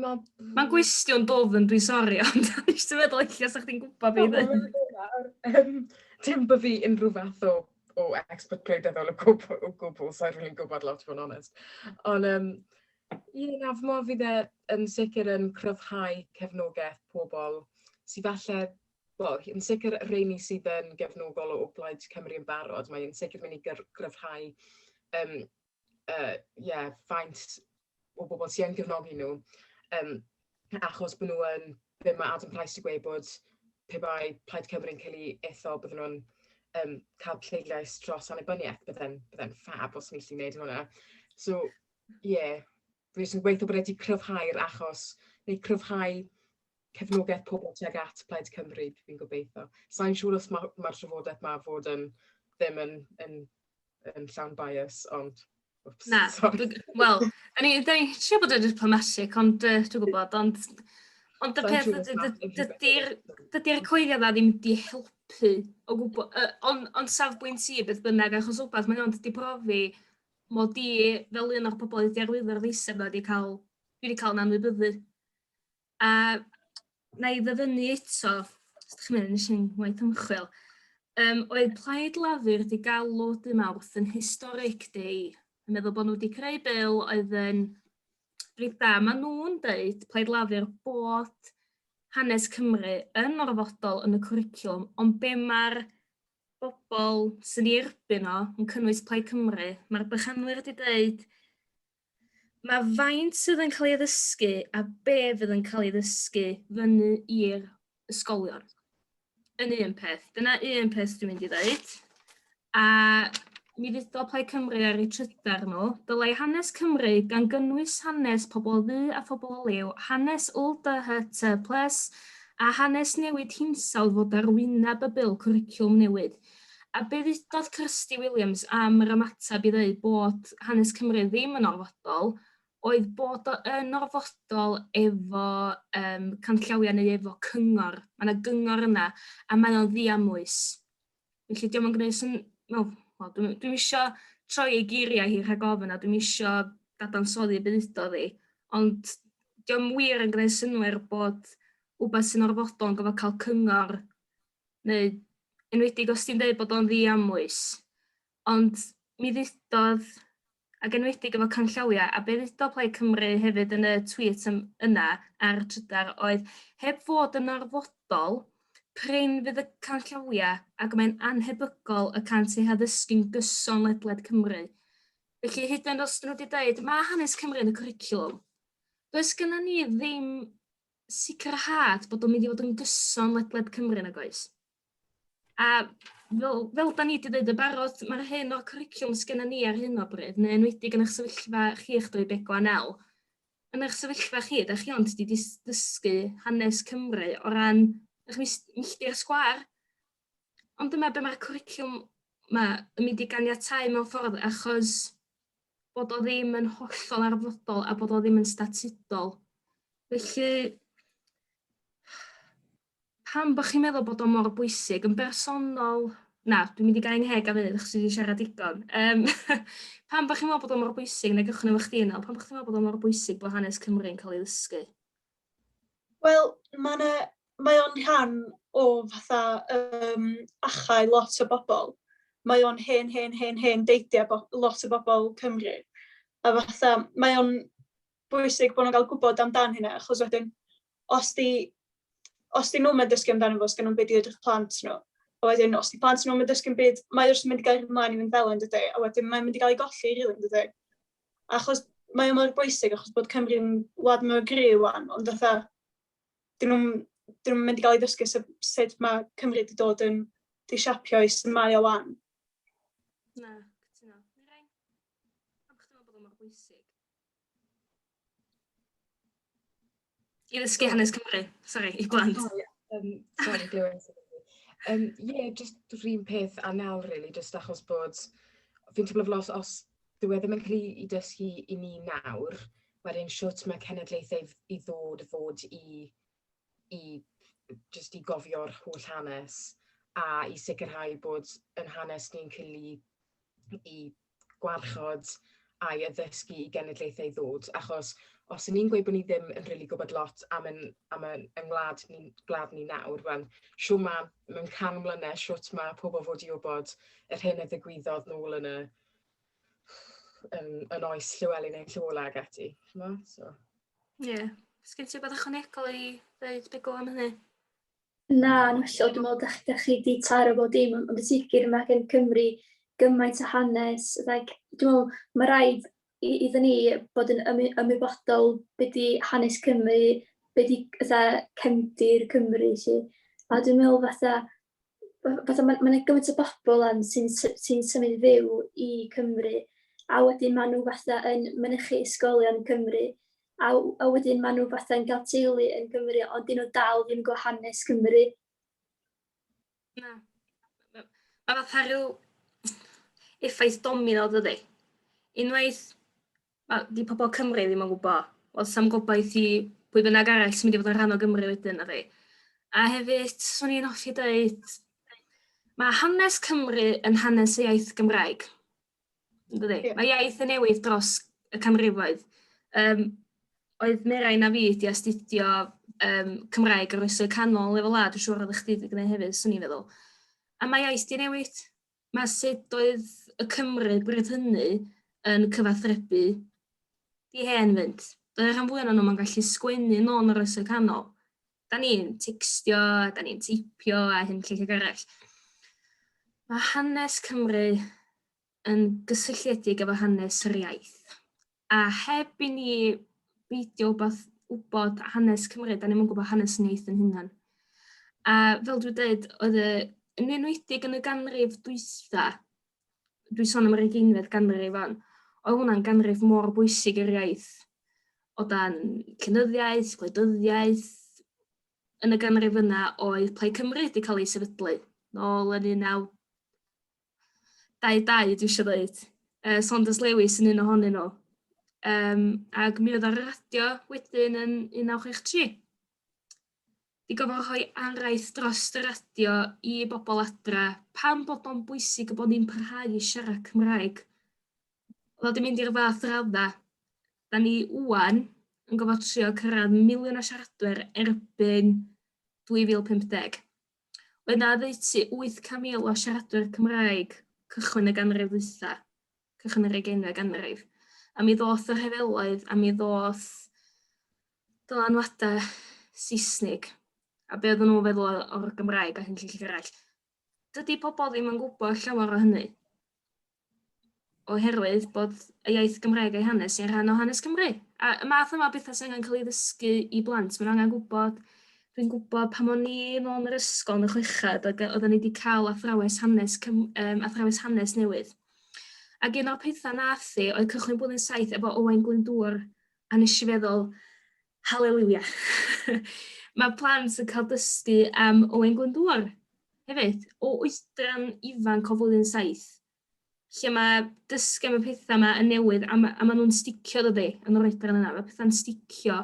Mae'n gwestiwn dofn, dwi'n sori, ond dwi'n eisiau meddwl eich lle sa'ch chi'n gwybod fi ddim. Dim bod fi unrhyw fath o, o expert gwleidyddol o gwbl, o gwbl, so rwy'n gwybod lot fod yn onest. Ond, um, ie, na, fy modd fydd e yn sicr yn cryfhau cefnogaeth pobl sydd falle Wel, yn sicr rheini sydd yn gefnogol o Blaid Cymru yn barod, mae'n sicr mynd i gryfhau um, yy, ie, faint o bobl sy yn gefnogi nhw. Yym, achos bod nhw yn... be ma' Adam Price 'di gweud bod pe bai Plaid Cymru yn cael ei ethol bydden nhw'n yym cael pleidlais dros annibyniaeth. Bydde'n bydde'n ffab os o'n ni'n gallu wneud hwnna. So ie. rhywun sy'n gweithio bod wedi cryfhau'r achos neu cryfhau cefnogaeth pobl tuag at Plaid Cymru, fi'n gobeithio. Sa'n siŵr os mae'r ma trafodaeth ma fod yn ddim yn, yn, yn llawn bias, ond... Oops, Na, wel, da ni'n ni siarad bod yn diplomatic, ond uh, dwi'n gwybod, ond... Ond y peth ydy'r dydy coelio na ddim wedi helpu o gwybod, uh, ond on safbwynt i beth bynnag, achos rhywbeth mae'n ond wedi profi mod i fel un o'r pobol oedd 'di arwyddo'r ddeiseb 'na 'di ca'l dwi 'di ca'l 'yn anwybyddu. A na i ddyfynnu eto, os dych chi'n meddwl nes i'n waith ymchwil, um, oedd Plaid Lafur wedi galw dy Mawrth yn historic day. Yn meddwl bod nhw wedi creu bil oedd yn rhaid da. Mae nhw'n dweud, Plaid Lafur, bod hanes Cymru yn orfodol yn y cwricwlwm, ond be mae'r bobol sy'n ei erbyn o, yn cynnwys Plaid Cymru, mae'r bychanwyr wedi dweud mae faint sydd yn cael ei ddysgu a be fydd yn cael ei ddysgu fyny i'r ysgolion yn un peth. Dyna un peth dwi'n mynd i ddeud. A mi fudo Plaid Cymru ar ei trydar nhw, dylai hanes Cymru, gan gynnwys hanes pobl o ddu a phobl o liw, hanes LDHT plus a hanes newid hinsawdd fod ar wyneb y Bil Cwricwlwm Newydd. A be ddudodd Kirsty Williams am yr ymateb i ddweud bod hanes Cymru ddim yn orfodol oedd bod o yn orfodol efo um, canllawiau neu efo cyngor. Mae yna gyngor yna a mae o'n ddiamwys. Felly diom yn gwneud syn- wel wel dwi'm dwi'm isio troi ei geiriau hi rhag ofn a dwi'm isio dadansoddi y byd oddi, ond diom wir yn gwneud synnwyr bod wbath sy'n orfodol yn gofod cael cyngor neu enwedig os ti'n deud bod o'n ddiamwys. Ond mi ddudodd ac enwedig efo canllawiau, a be ddudodd Plaid Cymru hefyd yn y tweet ym, yna ar y trydar oedd, heb fod yn orfodol, prin fydd y canllawiau ac mae'n annhebygol y cant eu haddysgu'n gyson ledled Cymru. Felly hyd yn os dyn nhw wedi dweud, mae hanes Cymru yn y cwricwlwm, does gyda ni ddim sicrhad bod o'n mynd i fod yn gyson ledled Cymru nag oes? A fel, fel da ni wedi dweud yn barod, mae'r hyn o'r cwricwlwm sgynna ni ar hyn o bryd, neu enwedig yn eich sefyllfa chi eich dweud Begwa Nel, yn eich sefyllfa chi, da chi ond wedi dysgu hanes Cymru o ran eich milltir sgwar, ond dyma be mae'r cwricwlwm yma yn mynd i ganiatau mewn ffordd achos bod o ddim yn hollol arfodol a bod o ddim yn statudol. Felly, pam bod chi'n meddwl bod o mor bwysig yn bersonol? Na, dwi'n mynd i gael ngheg ar hyn, achos dwi wedi siarad digon. Um, pam bod chi'n meddwl bod o mor bwysig, neu gychwyn efo chdi yna, pam bod chi'n meddwl bod o mor bwysig bod hanes Cymru'n cael ei ddysgu? Wel, mae mae o'n rhan o fatha um, achau lot o bobl. Mae o'n hen, hen, hen, hen deidiau lot o bobl Cymru. A fatha, mae o'n bwysig bod nhw'n cael gwybod amdan hynna, achos wedyn, os di, os di nhw'n mynd dysgu amdano fo, os gen nhw'n byd i edrych plant nhw, a wedyn, os di plant nhw'n mynd dysgu'n byd, mae wrth mynd i gael ymlaen i fynd fel yn dydy, a wedyn mae'n mynd i gael ei golli rili yn dydy. Achos mae o mor bwysig, achos bod Cymru'n wlad mor gry wan, ond fatha, dyn nhw'n dyn nhw'n mynd i gael ei ddysgu sut, sut mae Cymru wedi dod yn disiapio i sy'n mae o wan. Na, cytuno. Mirai, pam chdi meddwl bod o'n mor bwysig? I ddysgu hanes Cymru, sori, i blant. Oh, yeah. um, sorry, Glywed. Um, yeah, just rhywun peth a nawr, really, just achos bod... Fi'n teimlo fel os, os dyw e ddim yn cael ei dysgu i ni nawr, wedyn siwt mae cenedlaethau i ddod fod i, i just i gofio'r holl hanes a i sicrhau bod yn hanes ni'n cael ei, i gwarchod a'i addysgu i genedlaethau ddod, achos os y'n ni'n gweud bod ni ddim yn rili gwybod lot am yn am yn yng ngwlad ni gwlad ni nawr, wel shwt ma' mewn can mlynedd shwt ma' pobl fod i wybod yr hyn a ddigwyddodd nôl yn y yn yn oes Llewelyn ein Llywola ag ati, ch'mo'? So. Ie. Yeah. Sgyn ti wbeth ychwanegol i ddeud Begw am hynny? Na, yn hollol, dwi'n meddwl dach, dach chi wedi taro bod dim, ond y sicr mae gen Cymru gymaint o hanes. Like, dwi'n meddwl, mae rhaid i, iddyn ni bod yn ym, ymwybodol beth di hanes Cymru, beth di fatha, cefndir Cymru, lle. A dwi'n meddwl fatha, fatha mae yna gymaint o bobl yn sy'n sy symud fyw i Cymru, a wedyn maen nhw fatha yn mynychu ysgolion Cymru. a, a wedyn maen nhw fatha'n cael teulu yn Gymru, ond dyn nhw dal ddim gwybod hanes Cymru. Na. Mae fatha rhyw effaith domino dydy. Unwaith, mae di pobl Cymru ddim yn gwybod, oedd sam gobaith i pwy bynnag arall sy'n mynd i fod yn rhan o Gymru wedyn, na fi. A hefyd, swn i'n hoffi dweud, mae hanes Cymru yn hanes y iaith Gymraeg. Yndydi? Yeah. Mae iaith yn newid dros y canrifoedd. Um, oedd Merai na fi wedi astudio um, Cymraeg ar oesoedd canol lefel A, dwi'n siŵr oedd chdi wedi gwneud hefyd, swn i'n feddwl. A mae iaith di newid. Mae sut oedd y Cymru bryd hynny yn cyfathrebu di hen fynd. Doedd rhan fwy o'n nhw'n gallu sgwennu nôl yn yr oesoedd canol. da ni'n tecstio, da ni'n teipio a hyn lle lle arall. Mae hanes Cymru yn gysylltiedig efo hanes yr iaith. A heb i ni beidio wbeth wybod hanes Cymru, da ni'n gwybod hanes ni yn hynna'n. A fel dwi'n dweud, oedd y, yn enwedig yn y ganrif dwytha, dwi'n sôn am yr ugeinfed ganrif wan, oedd hwnna'n ganrif mor bwysig i'r iaith o dan cynyddiaeth, gwleidyddiaeth. Yn y ganrif yna oedd Plaid Cymru wedi cael ei sefydlu nôl yn 1922 dwi eisiau dweud. Uh, Saunders Lewis yn un ohonyn nhw. Um, ac mi oedd ar y radio wedyn yn 1963. i gorfod rhoi araith dros y radio i bobl adra pam bod o'n bwysig bod ni'n parhau i siarad Cymraeg. Oedd o 'di mynd i'r fath radda. Da ni ŵan yn gofod trio cyrraedd miliwn o siaradwyr erbyn 2050. Oedd 'na oddeutu 800,000 o siaradwyr Cymraeg cychwyn y ganrif ddwytha. cychwyn yr ugeinfed ganrif, a mi ddoth y rhyfeloedd, a mi ddoth dylanwadau Saesnig, a be oedden nhw'n feddwl o'r Gymraeg a hyn llall arall. Dydy pobl ddim yn gwybod llawer o hynny, oherwydd bod y iaith Gymraeg a'i hanes i'n rhan o hanes Cymru. A y math yma o bethau sy'n angen cael ei ddysgu i blant, mae'n angen gwybod Dwi'n gwybod pan o'n i'n ôl yn yr ysgol yn y chweched, oedden ni wedi cael athrawes hanes, um, athrawes hanes newydd. Ac un o'r pethau nath i oedd cychwyn blwyddyn saith efo Owain Glyndŵr a nes i feddwl haleliwia. Mae plant yn cael dysgu am Owain Glyndŵr hefyd o oedran ifanc o flwyddyn saith lle mae dysgu am y pethau yma yn newydd a, ma, a maen nhw'n sticio dydy yn yr oedran yna. Mae pethau'n sticio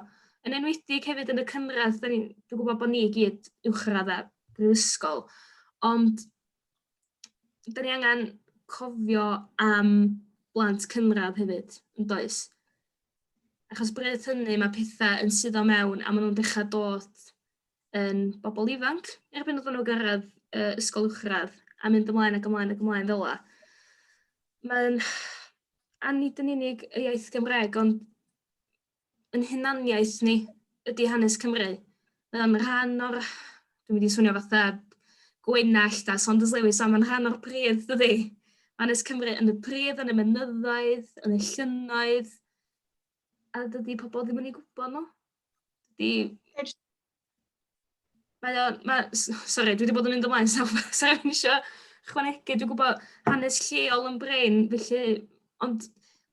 yn enwedig hefyd yn y cynradd, dwi'n gwybod bod ni i gyd uwchradd a brifysgol, ond dan ni angen cofio am blant cynradd hefyd, yn does? Achos bryd hynny mae pethau yn suddo mewn a maen nhw'n dechrau dod yn bobl ifanc erbyn iddyn nhw gyrraedd uh, ysgol uwchradd a mynd ymlaen ac ymlaen ac ymlaen fel la. Mae'n a nid yn unig y iaith Gymraeg ond yn hunaniaeth ni ydy hanes Cymru. Mae o'n rhan o'r, dwi'n mynd i swnio fatha gwenallt a Saunders Lewis, ond mae'n rhan o'r pridd, dydy? Mae hanes Cymru yn y pridd, yn y mynyddoedd, yn y llynnoedd, a dydy pobl ddim yn ei gwybod nhw. Dydy... Mae o, mae, sori, dwi wedi bod yn mynd ymlaen, so sori, fi'n eisiau chwanegu, dwi'n gwybod hanes lleol yn brin, felly, ond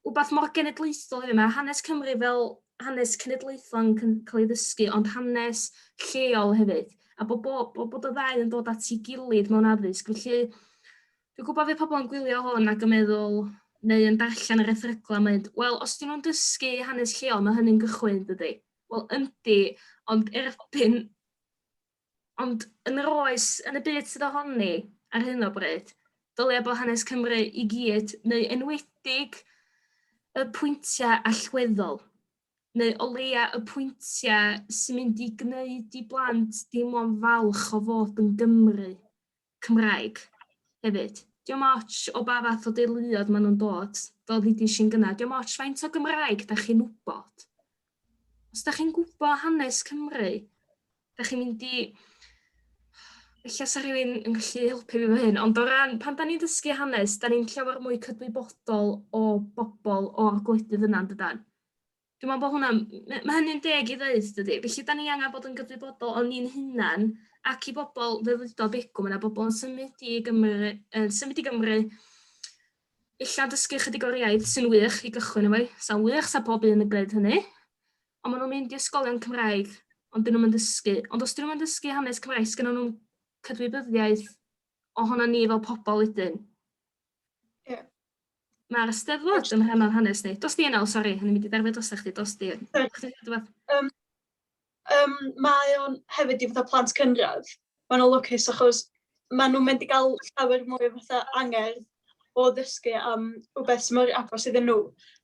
wbeth mor genedlaethol yw, mae hanes Cymru fel hanes cenedlaethol yn cael ei ddysgu, ond hanes lleol hefyd, a bod, bod, bod, bod y ddau yn dod at ei gilydd mewn addysg, felly dwi'n gwybod fe pobl yn gwylio hwn ac yn meddwl, neu yn darllen yr erthyglau, mae'n, wel, os dyn nhw'n dysgu hanes lleol, mae hynny'n gychwyn, dydy? Wel yndi, ond erbyn... Ond yn yr oes, yn y byd sydd ohoni ar hyn o bryd, dylia bod hanes Cymru i gyd, neu enwedig y pwyntiau allweddol, neu o leia y pwyntiau sy'n mynd i gwneud i blant deimlo'n falch o fod yn Gymry. Cymraeg hefyd. Diom ots o ba fath o deuluodd ma' nhw'n dod, fel ddudis i'n gynna', diom ots faint o Gymraeg dach chi'n wybod. Os dach chi'n gwybod hanes Cymru, dach chi'n mynd i... Ella sa rhywun yn gallu helpu fi efo hyn, ond o ran pan da ni'n dysgu hanes, da ni'n llawer mwy cydwybodol o bobl o'r gwledydd yna, yn dydan? Dwi'n meddwl bod hwnna'n... m- ma' hynny'n deg i ddeud dydi? Felly 'dan ni angan bod yn gyfrifodol o ni'n hunan ac i bobl fel ddudodd Begw ma' 'na bobl yn symud i Gymru yy symud i Gymru ella dysgu chydig o'r iaith sy'n wych i gychwyn efo 'i. Sa'n wych sa pob un yn gwneud hynny. Ond ma' nw'n mynd i ysgolion Cymraeg ond 'dyn nw'm yn dysgu. Ond os 'dyn nw'm yn dysgu hanes Cymraeg sgynnon nw'm cydwybyddiaeth ohonon ni fel pobol wedyn. Mae'r Eisteddfod yn rhan o'n hanes ni. Dos di yn ôl, sori, o'n i'n mynd i derfio drosta chdi, dos di. Sori. Chdi ddeud rwbeth? Um, um, mae o'n hefyd i fatha plant cynradd. Mae o'n lwcus achos mae nhw'n mynd i gael llawer mwy o fatha angerdd o ddysgu am rhywbeth sy'n mor agos iddyn nhw.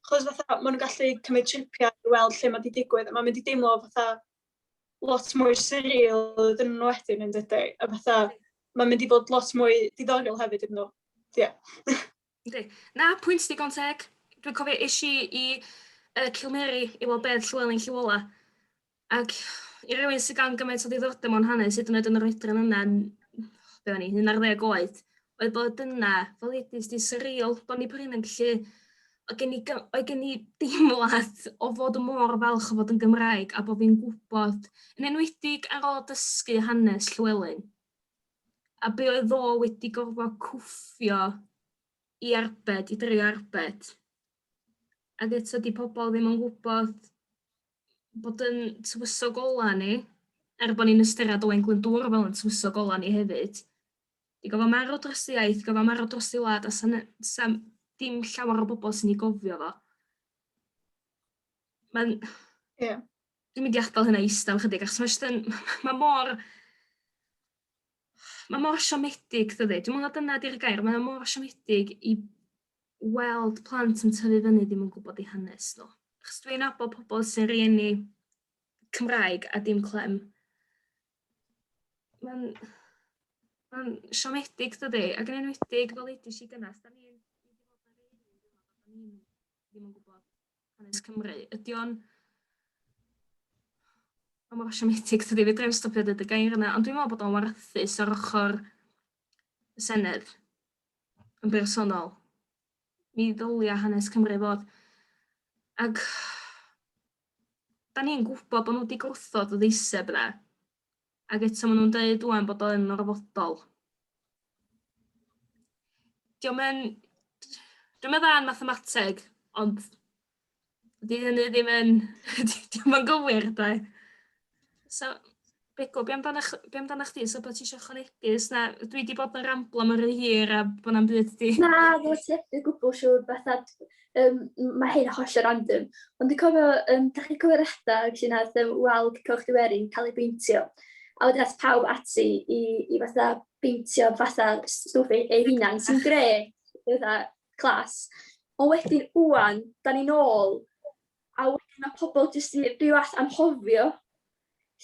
Chos fatha, maen nhw'n gallu cymryd tripiau i weld lle mae wedi digwydd, a mae'n mynd i deimlo fatha lot mwy surreal iddyn nhw wedyn, yn dydi? A fatha, mae'n mynd i fod lot mwy diddorol hefyd iddyn nhw. Ie. Yeah. Na, pwynt digon teg. Dwi'n cofio eisiau i uh, Cilmeri i weld beth Llywelyn Llywola. Ac i rywun sydd gan gymaint o ddiddordeb mewn hanes, hyd yn oed yn yr oedran yna, be o'n i, 11 oed, oedd bod yna, fel ddudis di, surreal, bod ni prin yn gallu, oedd gen i, oedd gen i deimlad o fod y môr falch o fod yn Gymraeg a bod fi'n gwybod, yn enwedig ar ôl dysgu hanes Llywelyn, a be oedd o wedi gorfod cwffio i arbed, i drio arbed. Ac eto di pobl ddim yn gwybod bod yn tywysog ola ni, er bod ni'n ystyried Owain Glyndŵr fel yn tywysog ola ni hefyd, Di gofio marw dros y iaith, gofio marw dros y wlad, a san, san, dim llawer o bobl sy'n ei gofio fo. Mae'n... Ie. Yeah. Dwi'n mynd i adael hynna eistedd ychydig, achos mae jyst yn... Mae mor... Mae mor siomedig, dydy. Dwi'n meddwl dyna di'r gair. Mae mor siomedig i weld plant yn tyfu fyny ddim yn gwybod ei hanes nhw. Achos dwi'n abo pobl sy'n rieni Cymraeg a dim clem. mae'n mae'n siomedig dydy ac yn enwedig fel edis i gynnas da ni'n ddim yn gwybod hanes Cymru ydy o'n a mor siomedig dydy fe ddim stopio dweud y gair yna ond dwi'n meddwl bod o'n warthus ar ochr y Senedd yn bersonol mi ddylia hanes Cymru fod ac da ni'n gwybod bod nhw wedi gwrthod y ddeiseb yna. Ac eto maen nhw'n dweud rwan bod o'n orfodol. Diolch yn... Dwi'n meddwl yn mathemateg, ond dydy hynny ddim yn... Diolch yn gywir, da. So, Begw, be amdana ch- be amdana chdi? Oes 'na wbath ti isio ychwanegu? Oes 'na... Dwi 'di bod yn ramblo am rhy hir a bod na'm byd 'di... Na, fel ti heb o gwbwl siŵr, fatha yym ma' hyn hollol random, ond dwi'n cofio yym dach chi'n cofio'r adeg lle wnaeth yym wal Coch y Werin cael ei beintio, a wedyn aeth pawb ati i i fatha beintio fatha stwff eu eu hunain, sy'n grêt, fatha class. Ond wedyn ŵan, 'dan ni'n ôl A wedyn mae pobl jyst yn byw at anghofio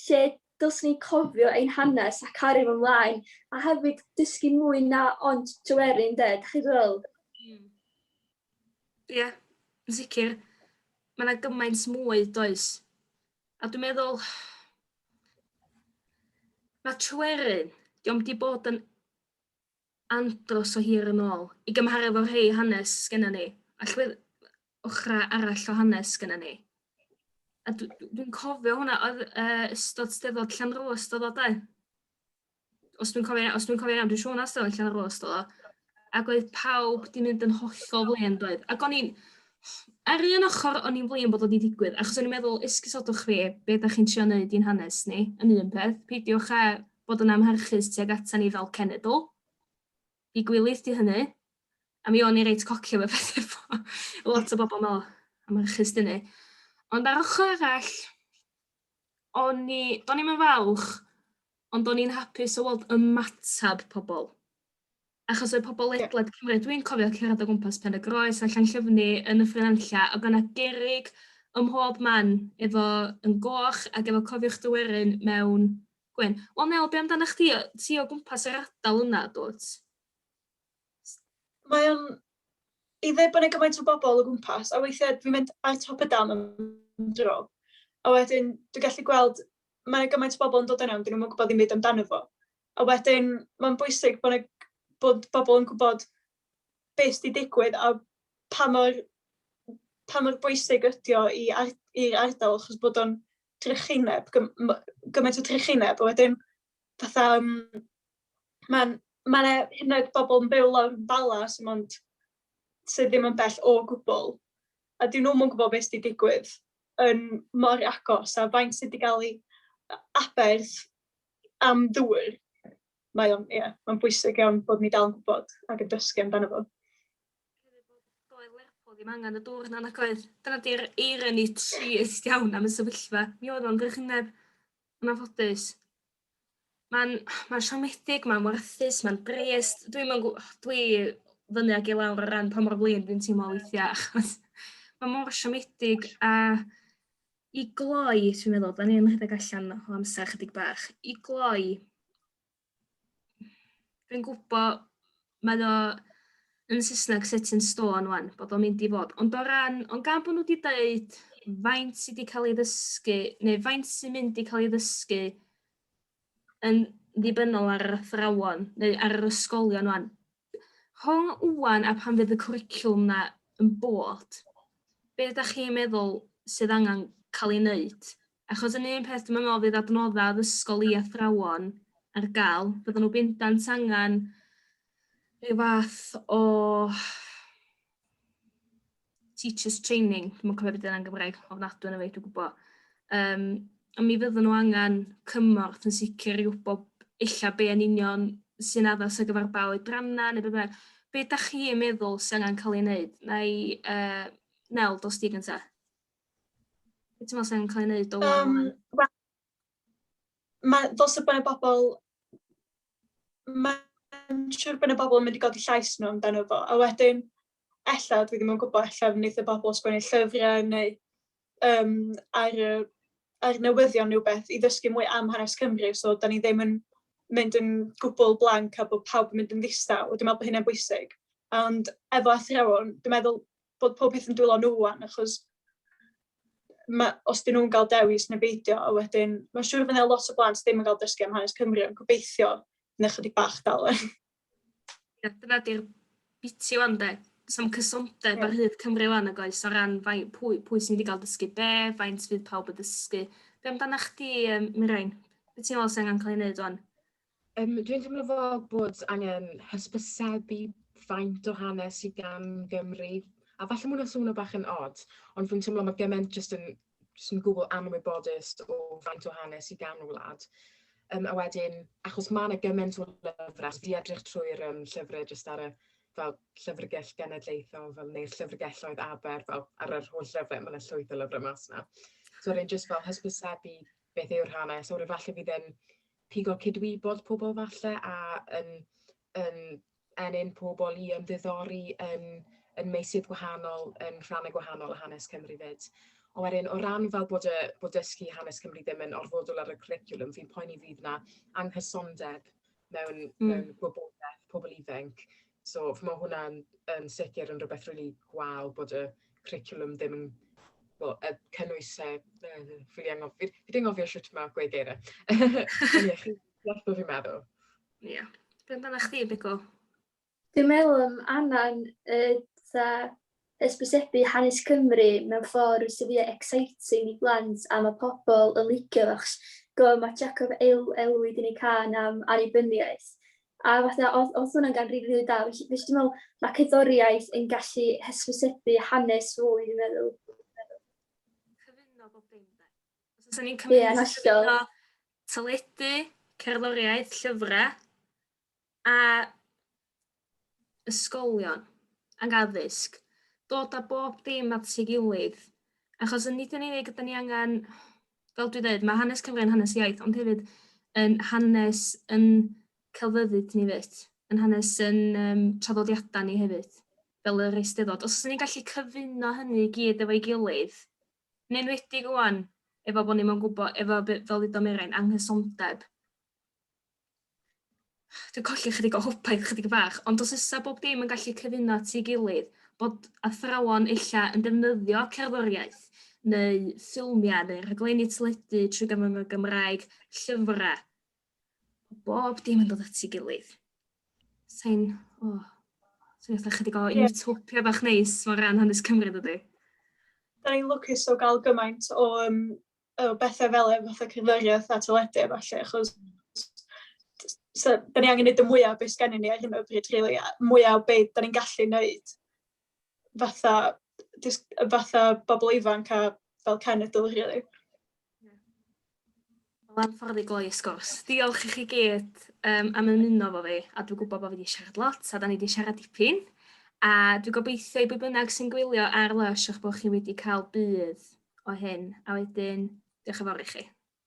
lle dylswn ni cofio ein hanes a cario fo mlaen, a hefyd dysgu mwy na ond Tryweryn ynde, dach chi fel? Hmm. Ie, yeah, yn sicr. Mae yna gymaint mwy, does? A dwi'n meddwl, mae Tryweryn, diolch di bod yn andros o hir yn ôl, i gymharu efo rhei hanes sgenna ni, allwedd ochra arall o hanes sgenna ni. A dwi'n cofio hwnna, oedd uh, ystod steddod Llanrwst ystod o dau. Os dwi'n cofio, os dwi'n cofio iawn, dwi'n siŵr na ystod Llanrwst ystod o. Ac oedd pawb di mynd yn hollol flin, doedd. Ac o'n i'n, ar un ochr o'n i'n flin bod o wedi digwydd, achos o'n i'n meddwl, esgusodwch fi, be da chi'n trio wneud i'n hanes ni, yn un peth, peidiwch a bod yn amharchus tuag ata ni fel cenedl. I gwilydd di hynny. A mi o'n i reit coci am y peth efo. Lot o bobl meddwl, amharchus di hynny. Ond ar ochr arall, o'n i, do'n i'm yn falch, ond do'n i'n hapus o weld ymateb pobl. Achos oedd pobl ledled Cymru, dwi'n cofio cerdded o gwmpas Pen y Groes a Llanllyfni yn y ffrinanlla, oedd yna gerig ym mhob man efo yn goch ac efo cofiwch dywerin mewn Gwyn. Wel Nel be' amdanach chdi yy ti o gwmpas yr ardal yna dw't? Mae o'n i ddeud bod 'na gymaint o bobl o gwmpas a weithiau dwi'n mynd ar top y dam am dro a wedyn dwi'n gallu gweld mae 'na gymaint o bobl yn dod yna ond 'dyn nhw'm yn gwbod dim byd amdano fo. A wedyn mae'n bwysig bod 'na bod bobl yn gwbod be' sy' 'di digwydd a pa mor pa mor bwysig ydi o i ar- i'r ardal achos bod o'n drychineb, gymaint o drychineb, a wedyn fatha yym mae'n... mae 'na hyd yn oed bobl yn byw lawr yn Bala sy mond... sy ddim yn bell o gwbl, a 'dyn nhw'm yn gwbod be sy' 'di digwydd yn mor agos, a faint sy' 'di gael ei aberth am ddŵr. Mae o'n, ia, mae'n bwysig iawn bod ni dal yn gwbod ac yn dysgu amdano fo. Doedd Lerpwl ddim angen y dŵr na nac oedd? Dyna 'di'r irony trist iawn am y sefyllfa. Mi oedd o'n drychineb. Yn anffodus. Mae'n mae'n siomedig, mae'n warthus, mae'n drist. Dwi'm yn gw- dwi fyny ag i lawr o ran pa mor flin dwi'n teimlo weithiau achos mae mor siomedig a i gloi dwi'n meddwl 'dan ni yn rhedeg allan o amser chydig bach. I gloi Dwi'n gwybod, mae o yn Saesneg set in stone wan, bod o'n mynd i fod. Ond o ran, ond gan bod nhw wedi dweud faint sydd wedi cael ei ddysgu, neu faint sy'n mynd i cael ei ddysgu yn ddibynnol ar yr athrawon, neu ar yr ysgolion wan. Rhwng wwan a pan fydd y cwricwlwm na yn bod, be ydych chi'n meddwl sydd angen cael ei wneud Achos yn un peth dwi'n meddwl fydd adnodda' addysgol i athrawon ar ga'l fyddan nhw bendant angan rhyw fath o teachers training dwi'm yn cofio be' 'di wnna yn Gymraeg ofnadw ohono fi dwi gwbo yym on' mi fyddan nhw angan cymorth yn sicr i wbo ella be' yn union sy'n addas ar gyfar ba oedranna ne' be' bynnag. Be' dach chi yn meddwl sy angan ca'l ei neud? Nai yy Nel dos di gynta. Beth ti'n meddwl sy'n cael ei wneud o um, well? Mae dos y bynau bobl, mae'n siŵr bynau bobl yn mynd i godi llais nhw amdano fo, a wedyn, ella, dwi ddim yn gwybod, ella fe wneud y bobl sgwennu llyfrau neu um, ar, ar newyddion neu beth i ddysgu mwy am hanes Cymru, so da ni ddim yn mynd yn gwbl blanc a bod pawb yn mynd yn ddistaw, dwi'n meddwl bod hynny'n bwysig. Ond efo athrawon, dwi'n meddwl bod pob peth yn dwylo nhw wan, achos ma, os dyn nhw'n cael dewis neu beidio, a wedyn, mae'n siŵr fydd yna lot o blant ddim yn cael dysgu am hanes Cymru, ond gobeithio yn ychydig bach dal e. Ie, dyna di'r biti wan de. Sam cysondeb yeah. ar hyd Cymru wan ag oes o ran fai, pwy, pwy sy'n mynd i gael dysgu be, faint fydd pawb yn dysgu. Be amdana chdi, um, Mirain? Be ti'n meddwl sy'n angen cael ei wneud wan? Yym, dwi'n teimlo fel bod angen hysbysebu faint o hanes sydd gan Gymru, a falle mwyn hwnna'n swnio bach yn odd, ond dwi'n teimlo mae gymaint jyst yn jyst yn gwbl anwybodus o faint o hanes sydd gan y wlad. Um, a wedyn, achos mae yna gymaint o lyfrau, di edrych trwy'r um, llyfrau jyst ar y fel llyfrgell genedlaethol, fel neu'r llyfrgelloedd aber, fel ar yr holl lyfrau, mae yna llwyth o lyfrau mas yna. So rwy'n jyst fel hysbysebu beth yw'r hanes, o'r efallai fydd yn pigo cydwybod pobl falle a yn yn ennyn pobl i ymddiddori yn yn meysydd gwahanol, yn rhannau gwahanol o hanes Cymru 'fyd. Ond wedyn o ran fel bod y bod dysgu hanes Cymru ddim yn orfodol ar y cwricwlwm, fi'n poeni fydd 'na anghysondeb mewn... mm. ...mewn gwybodaeth pobl ifanc So mae hwnna'n yn sicr yn rhywbeth rili gwael bod y cwricwlwm ddim yn wel y cynnwys yy yy fi 'di anghofio fi fi 'di anghofio shwt ma' gweud geiriau. Ond ie chi'n deall be' fi'n meddwl. Ie. Be' amdanach chdi Migo? Dwi'n meddwl am Anna'n yy 'tha Hysbysebu hanes Cymru mewn ffordd sydd fwya exciting i blant a ma pobl yn licio achos gofio ma Jacob elwi di neud cân am annibyniaeth a fatha odd odd hwnna'n gan rili rili da felly dwi me'l ma cerddoriaeth yn gallu hysbysebu hanes fwy dwi'n meddwl. Cyfuno bob dim de. Os o's ni'n cymryd... Ie yn hollol. ...cyfuno teledu, cerddoriaeth, llyfra, a ysgolion ac addysg, dod â bob dim at ei gilydd, achos yn nid yn unig ydy ni angen, fel dwi'n dweud, mae hanes Cymru yn hanes iaith, ond hefyd yn hanes yn celfyddyd ni fyd, yn hanes yn um, traddodiadau ni hefyd, fel yr eisteddod. Os ni'n gallu cyfuno hynny i gyd efo'i gilydd, yn enwedig rwan, efo bod ni'n mwyn gwybod, efo, fel ddudo Meren, anghysondeb, dwi'n colli chydig o hwpaeth chydig bach, ond os ysa bob dim yn gallu cyfuno at ei gilydd, bod athrawon ella yn defnyddio cerddoriaeth neu ffilmiau neu rhaglenni teledu trwy gyfrwng y Gymraeg, llyfrau, bob dim yn dod at ei gilydd. Sain, o, oh, sain eitha chydig o yeah. utopia bach neis o ran hanes Cymru dydy. Da ni'n lwcus o gael gymaint o um, o bethau fel efo fatha cerddoriaeth a teledu a ballu achos so, da ni angen gwneud y mwyaf beth gennym ni ar hyn o bryd, really, a mwyaf o beth da ni'n gallu gwneud fatha, just, fatha bobl ifanc a fel cenedl, really. Mae'n ffordd i gloi y sgwrs. Diolch i chi gyd um, am ymuno fo fi, a dwi'n gwybod bod fi wedi siarad lot, a da ni wedi siarad dipyn. A dwi'n gobeithio i bwy bynnag sy'n gwylio ar Lush eich bod chi wedi cael budd o hyn, a wedyn, diolch yn fawr i chi.